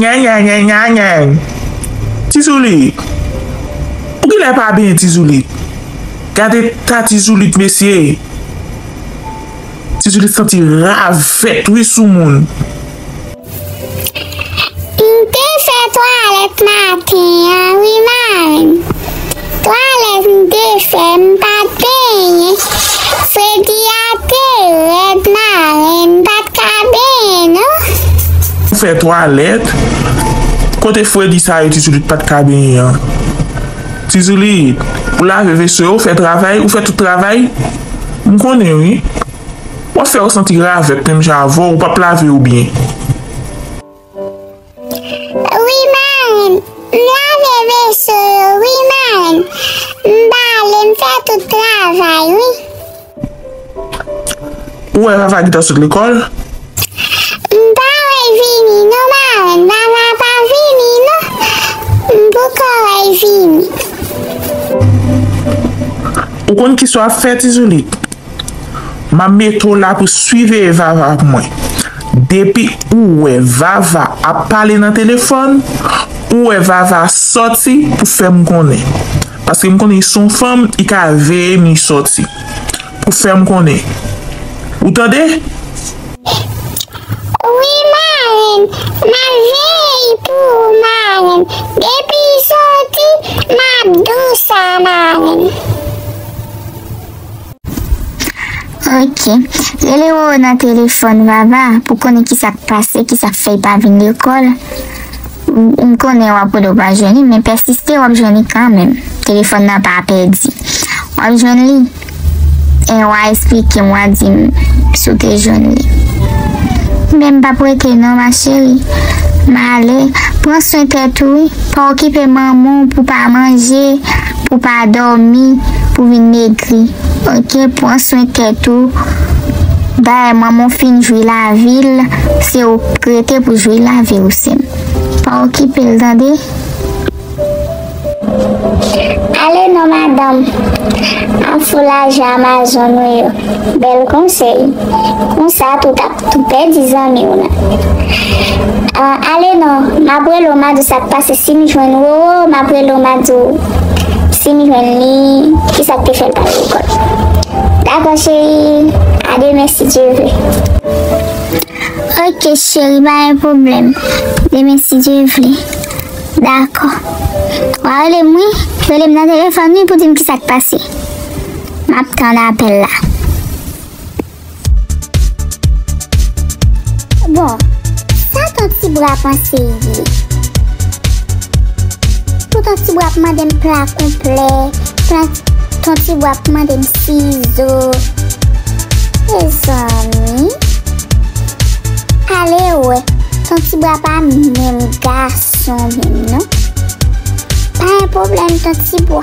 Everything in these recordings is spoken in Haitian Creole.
Nyanyanyanyanyany tizoulit ou genlè pa byen tizoulit gad eta tizoulit mesye tizoulit santi ravèt wi soumoun. M te fè twalèt maten an wi marenn. Twalèt m te fè m pat benyen. Fredi a te rèd marenn m pat ka benyen non. M fè twalèt, kote fredi sa yo tizoulit pat ka benyen an? Tizoulit, ou lave veso yo, fè travay, ou fè tout travay? M konnen wi. Wap fè yo santi ravèt menm jan avèw ou pap lave yo byen. Wi marenn m lave veso yo wi marenn m bale m fè tout travay wi. Ou wè vava gentan sot lekòl. M pa wèl vini non marenn vava pa vini non m poko wèl vini. Ou konn kisa wap fè tizoulit. Map mete w la pou siveye vava pou mwen. Depi ou wè vava ap pale nan telefòn ou wè vava sòti pou fèm konnen. Paske m konnen li son fanm li ka veye m li sòti pou fèm konnen ou tande. Wi marenn map veye li pou ou marenn depi li sòti map di w sa marenn. Ok. Rele Roro nan telefòn, Vava, pou konnen ki sa k pase, ki sa k fè l pa vin lekòl. M konnen w ap rele w pa jwenn li, men pèsiste w ap jwenn li kanmenm. Telefòn nan pa pèdi. W ap jwenn li, e w a esplike m, w a di m si w te jwenn li. Men m p ap rete non, ma cheri. M ale. Pran swen tèt ou wi. Pa okipe manman w pou w pa manje. Ou pa domi pou vin megri ok pran swen tèt ou dayè manman w fin jwi lavi l se ou k rete pou jwi lavi w sèm pa okipe l tande. Ale non madanm an foulaj amazon ou yo bèl konsèy konsa tout ap. Tou pèdi zanmi w nan. Ahh ale non, m ap rele w m a di w sa k pase si m jwenn Roro, m ap rele w m a di w si m jwenn li ki sa k te fè l pa ale lekòl. Dakò cheri, a demen si Dye vle. Ok cheri pa gen pwoblèm, demen si Dye vle. Dakò. W a rele m wi, rele m nan telefòn wi pou di m ki sa k pase. M ap tann apèl la. Bon, sa ton ti bwa panse y ye? Pou ton ti bwa ap mande m pla konplè, pla ton ti bwa ap mande m sizo. Mezanmi. Ale wè, ton ti bwa pa menm gason menm non. Pa yon pwoblèm ton ti bwa.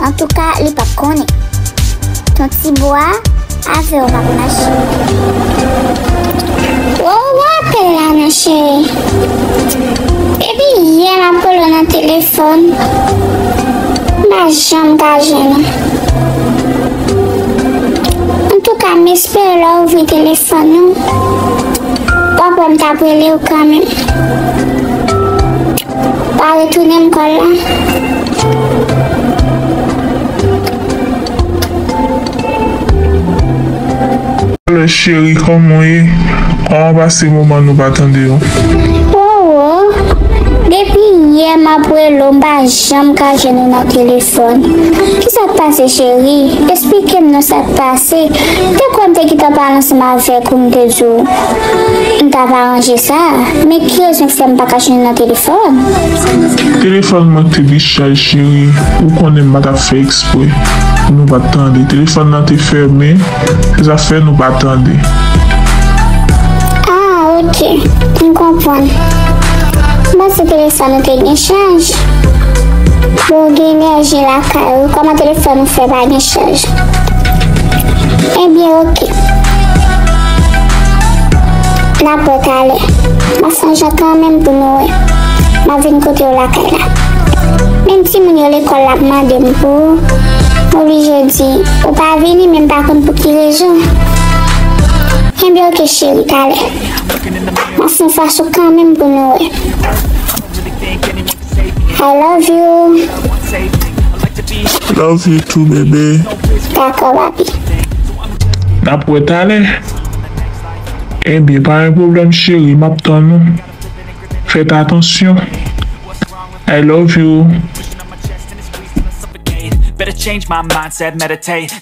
Antouka li pap konnen. Ton ti bwa avew pap mache. Wou wè apèl la nan cheri. Depi yè map relew nan telefòn m pa janm ka jwenn ou. Antouka m espere lè w ouvri telefòn ou wap wè m tap relew kanmenm. Pa retounen m kòl la. Alo cheri kòman w ye? Kòman w pase moman nou pa tande yo? Depi yè map rele w m pa janm ka jwenn ou nan telefòn Kisa k pase cheri? Esplike m non sa k pase? M te kwè m te kite w pale ansanm avèk ou m te di w M tap aranje sa, men ki rezon k fè m pa ka jwenn nan telefòn? Telefòn mwen k te pi chaj cheri, ou konnen m pa tap fè ekspre pou nou pat tande, telefòn nan te fèmen, sa fè nou pa tande. Ah ok, m konprann. M panse telefòn ou te gen chaj. Bon ou gen enèji lakay ou, kòman telefòn ou fè pa gen chaj? Ebyen ok, Nan pwè talè. Mwen sonjan kanmenm pou nou wè. Map vin kotew lakay la. Menm timoun yo lekòl la ap mandem pou ou. M oblije di ou pa vini menm pa konn pou ki rezon. Kenbe ok cheri talè. Map fon fas ou kanmenm pou nou wè. I love you. Love you too bebe. Dakò papi. Nap wè talè. Ebyen pa gen pwoblèm cheri map tann ou. Fèt atansyon. I love you.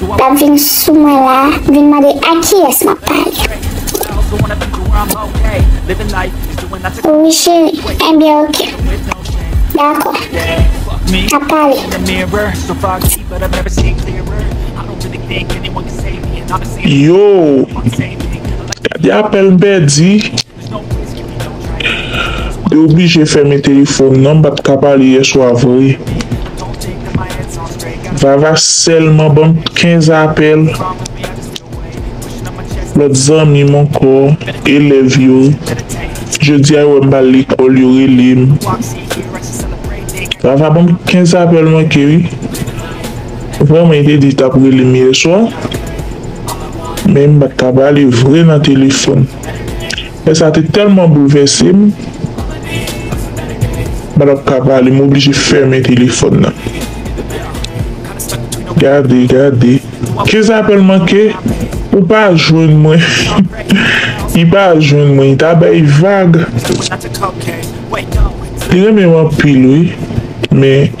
Lap vin sou mwen la vin mande a kiyes map pale. Wi cheri enbyen ok dako nap pale. Yow gade apèl m pèdi. Te oblije fèmen telefòn nan m pat ka pale yèswa vre Vava sèlman banm 15 apèl lòt zanmi m ankò elèv yo jodia yo wèm pa al lekòl yo rele m Vava banm 15 apèl manke wi vrèman li te di li tap rele m yèswa men m pat ka pale vre nan telefòn. Lè sa te tèlman boulvèse m, mwen pa t ap ka pale, m oblije fèmen telefòn nan. Gade, gade, ke zapèl manke, ou pa jwenn mwen, li pa jwenn mwen, li ta bay vag. Li renmen m anpil wi, men.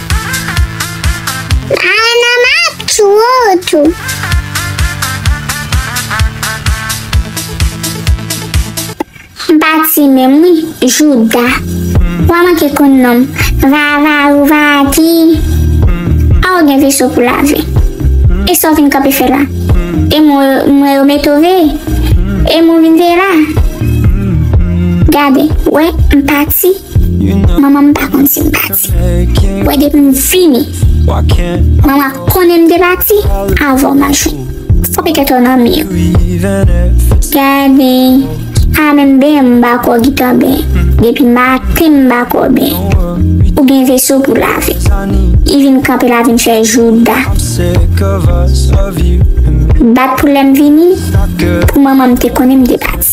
Hi mama ap tchouwe w tou. M pa ti menm wi jouda. Wa manke konn nonm. Vavarouvati. A ou gen veso pou lave. E sa w vin kanpe fè la. E mo mwen yo mete w veye. E mo vin veye la. Gade. Wè m pati. Manman m pa konn si m pati. Wè depi m vini. Manman konnen m te pati avan w nan jou. Fò petèt ou nan mi w. Gade. A menm ben m ba kò gitan ben. Depi maten m ba kò ben. Ou gen veso pou lave. I vin kanpe la vin fè jouda. Bat pou lè m vini. Pou manman m te konnen m te pati.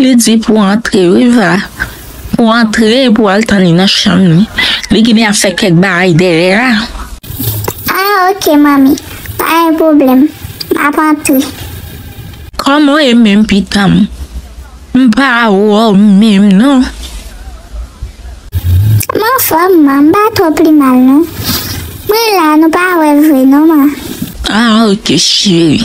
Li di pou antre wi va. Pou antre pou al tann li nan chanm li. Li ginen ap fè kèk bagay dèyè a. Ah ok manmi pa gen pwoblèm map antre. Kòman w ye menm pitanm. M pa wè w menm non. M anfòm man m pa twò pi mal non. Mwen la nou pa wè vre non man. Ah ok cheri.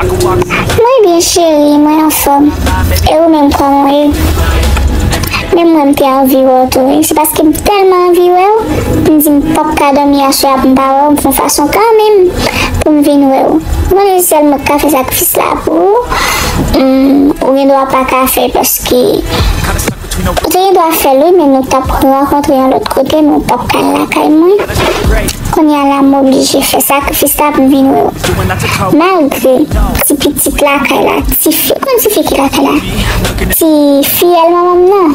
Mwen byen cheri mwen anfom e ou menm koman ye menm mwen mte anvi wèw tou wi se paske m telman anvi wèw m di m pap ka domi aswè a poum pa wèw m fon fason kanmenm poum vin wèw mwen di sèl mwen k ka fè sakrifis la pou ou m ou gendwa paka fè paske Ou te gen dwa fèl wi men nou tap rankontre yon lòt kote men ou pap ka al lakay mwen kounya la m oblije fè sakrifis sa pou m vin wè w malgre ti pitit lakay la ti fi ou konn ti fi ki lakay la ti fiyèl manman m nan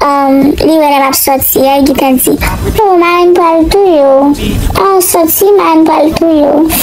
humm li wè lè map sòti a li gentan di oh marenn pral touye w oh sòti marenn pral touye w.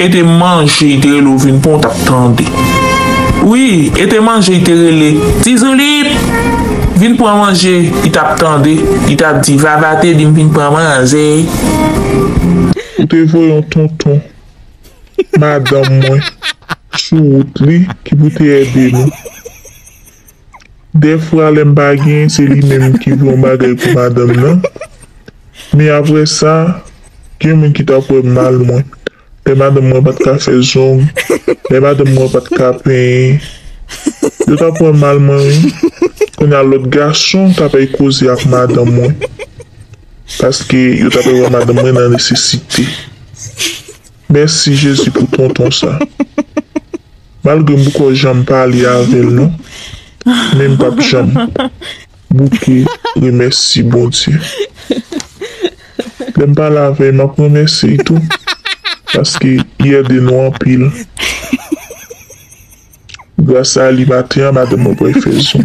E te manje i te rele ou vin pran ou tap tande wi e te manje i te rele tizouliip vin pran manje i tap tande i tap di vava te dim vin pran manje. Ou te voye yon tonton madanm mwen sou wout li ki pou te ede nou. Dèfra lè m pa gen se li menm ki pran bagay pou madanm nan. Men aprè sa, gen moun ki t ap wè mal mwen. Lè madanm mwen pa t ka fè zong, lè madanm mwen pa t ka penyen, yo t ap wè mal mwen wi. Kounye a lòt gason t apèy koze ak madanm mwen paske yo t apèy wè madanm mwen nan nesesite. Mèsi jezi pou tonton sa. Malgre m pko janm pale avèl non men m pap janm bouke remèsi Bondye lèm pale avèy map remèsyey tou paske li ède nou anpil gras a li maten an madanm mwen pral fè zon.